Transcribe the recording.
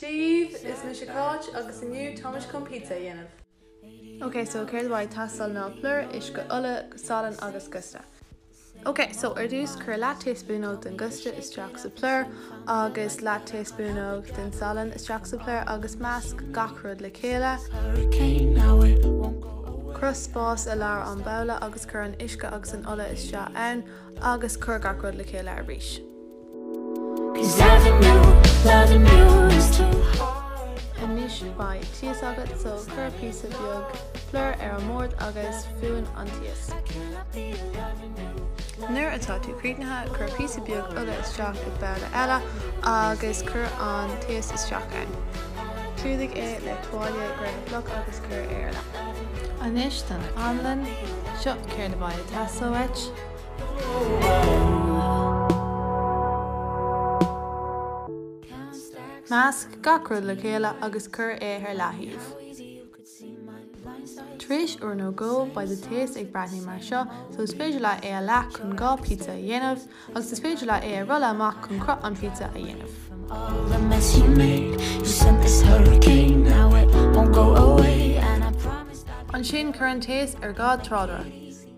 Dia dhaoibh! Is mise Cáit agus inniu táimid chun pizza a dhéanamh. Ok so céard a bheidh ag teastáil ná plúr, uisce, ola, salann agus giosta. Ok so ar dtús cuir leath taespúnóg den giosta isteach sa plúr agus leath taespúnóg den salann isteach sa plúr agus measc gach rud le chéile. Cruthaigh spás i lár an babhla agus cuir an uisce agus an ola isteach ann agus cuir gach rud le chéile arís. Anois beidh taos agat so cuir píosa beag plúr ar an mbord agus fuin an taos. Nuair atá tú críochnaithe, cuir píosa beag ola isteach i babhla eile agus cuir an taos isteach ann. Clúdaigh é le tuáille gréithe fliuch agus cuir é ar leith. Anois don anlann. Seo céard a bheidh ag teastáil uait. Measc gach rud le chéile agus cuir é ar leataobh. Tar éis uair nó dhó beidh do taos ag breathnú mar seo so is féidir leat é a leath chun dhá pizza a dhéanamh agus is féidir leat é a rolladh amach chun cruth an phizza a dhéanamh. Ansin cuir an taos ar dhá tráidire.